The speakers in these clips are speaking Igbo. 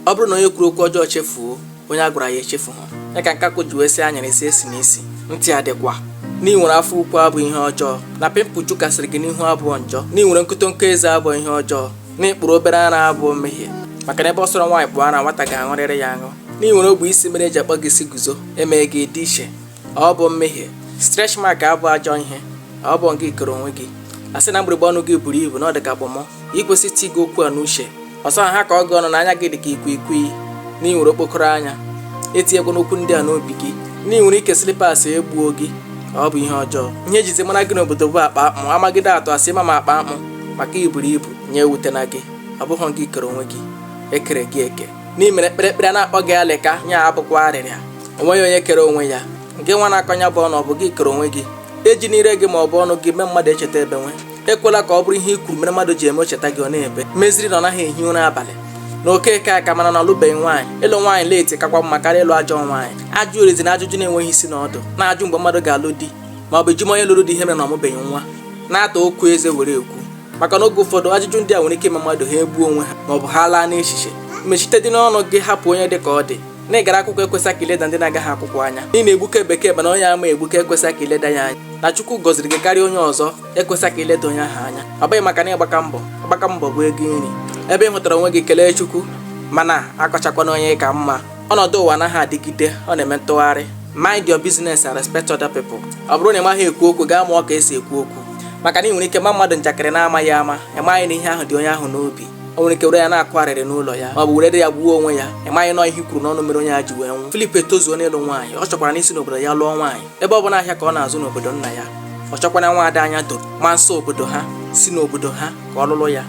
ọ bụrụ na onye kwuru okwu ọjọọ chefuo onye a gwara ya echefu ha ya ka nkakwụ ji wee sị anyara esi esi na isi ntị adịkwa na i nwere afọ ukwu abụọ ihe ọjọọ na pimpụl jukasịrị gị n'ihu abụọ njọ na i nwere nkotonko eze abụọ ihe ọjọọ na ị kpụrụ obere ara abụọ mmehie maka na ebe ọ sọrọ nwaanyị kpụọ ara nwata ga-aṅụrịrị ya aṅụ na i nwere ogbe isi mere eji akpọ gị isi guzo emee gị dị iche ọ bụ mmehie stretch mark abụ ajọ ihe ọ bụ ngị kere onwe gị a sị na mgbịrịgba ọnụ gị buru ibu na ọ dị ka kpọmọ ikwesị iti gị okwu a n'uche ọ sọ ha kọọ gị ọnụ na anya gị dị ka ikwikwii na ị nwere okpokoro anya etinyekwana okwu ndị a n'obi gị na ị nwere ike slippers egbuo gị ọ bụ ihe ọjọọ ihe ejizi mara gị n'obodo bụ akpa akpụ amagide atụ asị ma ma akpa akpụ maka iburu ibu nya ewutena gị ọ bụghị gị kere onwe gị e kere gị eke n'imere kpịrịkpịrị a na-akpọ gị alịka nya abụkwa arịrịa onweghị onye kere onwe ya ngị nwa na-akọ onye ibu ọnụ ọ bụ gị kere onwe gị ejina ire gị ma ọ bụ ọnụ gị mee mmadụ echeta ebe nwe ekwela ka ọ bụrụ ihe i kwuru mere mmadụ ji eme o cheta gị ọ na-ebe meziri na ọ naghị ehi ụra abalị na okeke aka mana na ọ lụbeghị nwaanyị ịlụ nwaanyị late kakwa mma karịa ịlụ ajọ nwaanyị ajụgharịzina ajụjụ na-enweghị isi na ọdụ na-ajụ mgbe mmadụ ga-alụ di ma ọ bụ jụma onye lụrụ di ihe mere na ọ mụbeghị nwa na-ata okwu eze were ekwu maka na oge ụfọdụ ajụjụ ndị a nwere ike ime mmadụ ha egbuo onwe ha maọbụ ha laa n'echiche mechite dị n'ọnụ gị hapụ onye dị ka ọ dị na ị gara akwụkwọ ekwesị ka i leda ndị na-agaghị akwụkwọ anya ị na-egbuke bekee mana onye ama egbuke ekwesị ka i leda ya anya na chukwu gọziri gị karịa onye ọzọ ekwesị ka i leda onye ahụ anya ọ bụghị maka na ị gbaka mbọ agbaka mbọ bụ ego nri ebe ị hụtara onwe gị kelee chukwu mana akọchakwana onye ị ka mma Ọnọdụ ụwa anaghị adịgide, ọ na-eme ntụgharị. Mind your business and respect other people. Ọ bụrụ na ị maghị ekwu okwu, gaa mụọ ka esi ekwu okwu. Maka na ị nwere ike ma mmadụ njakịrị na-amaghị ama, ị maghị na ihe ahụ dị onye ahụ n'obi. O nwere ike were ya na-akwa arịrị n'ụlọ ya ma ọ bụ were ya gbuo onwe ya ị maghị na ọọ ihe i kwuru n'ọnụ mere onye a ji wee nwụ Philip etozuo n'ịlụ nwaanyị ọ chọkwara n'isi n'obodo ya lụọ nwaanyị ebe ọ bụ na ahịa ka ọ na-azụ n'obodo nna ya ọ chọkwara nwaada anya doro ma nsọ obodo ha si n'obodo ha ka ọ lụrụ ya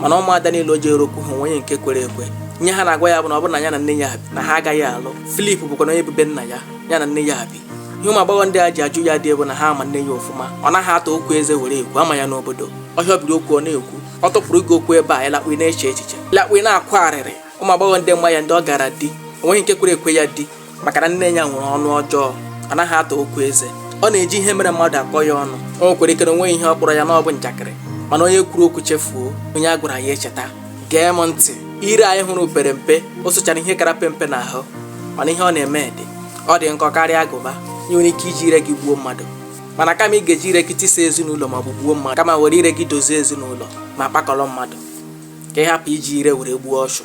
mana ụmụada niile o jere okwu ha onweghị nke kwere ekwe ihe ha na-agwa ya bụ na ọ bụrụ na ya na nne ya bi na ha agaghị alụ Philip bụkwanụ onye bi be nna ya ya na nne ya bi ihe ụmụ agbọghọ ndị a ji ajụ ya di bụ na ha ama nne ya ọfụma ọ naghị ata okwu eze were ekwu a ma ya n'obodo ọhịa biri okwu ọ na-ekwu ọ tụpụrụ gị okwu ebe a ị lakpuo na-eche echiche ị lakpuo na-akwa arịrị ụmụ agbọghọ ndị ma ya ndị ọ gara di onweghị nke kwere ekwe ya di maka na nne ya nwere ọnụ ọjọọ ọ naghị ata okwu eze ọ na-eji ihe mere mmadụ akọ ya ọnụ o nwekwara ike na o nweghị ihe ọ kpọrọ ya na ọ bụ njakịrị mana onye kwuru okwu chefuo onye a gwara ya echeta gee m ntị ire anyị hụrụ pere mpe o sochara ihe kara pe mpe n'ahụ mana ihe ọ na-eme dị ọ dị nkọ karịa agụba ị nwere ike iji ire gị gbuo mmadụ mana kama ị ga-eji ire gị tisa ezinụlọ ma ọ bụ gbuo mmadụ kama were ire gị dozie ezinụlọ ma kpakọrọ mmadụ ka ị hapụ iji ire were gbuo ọchụ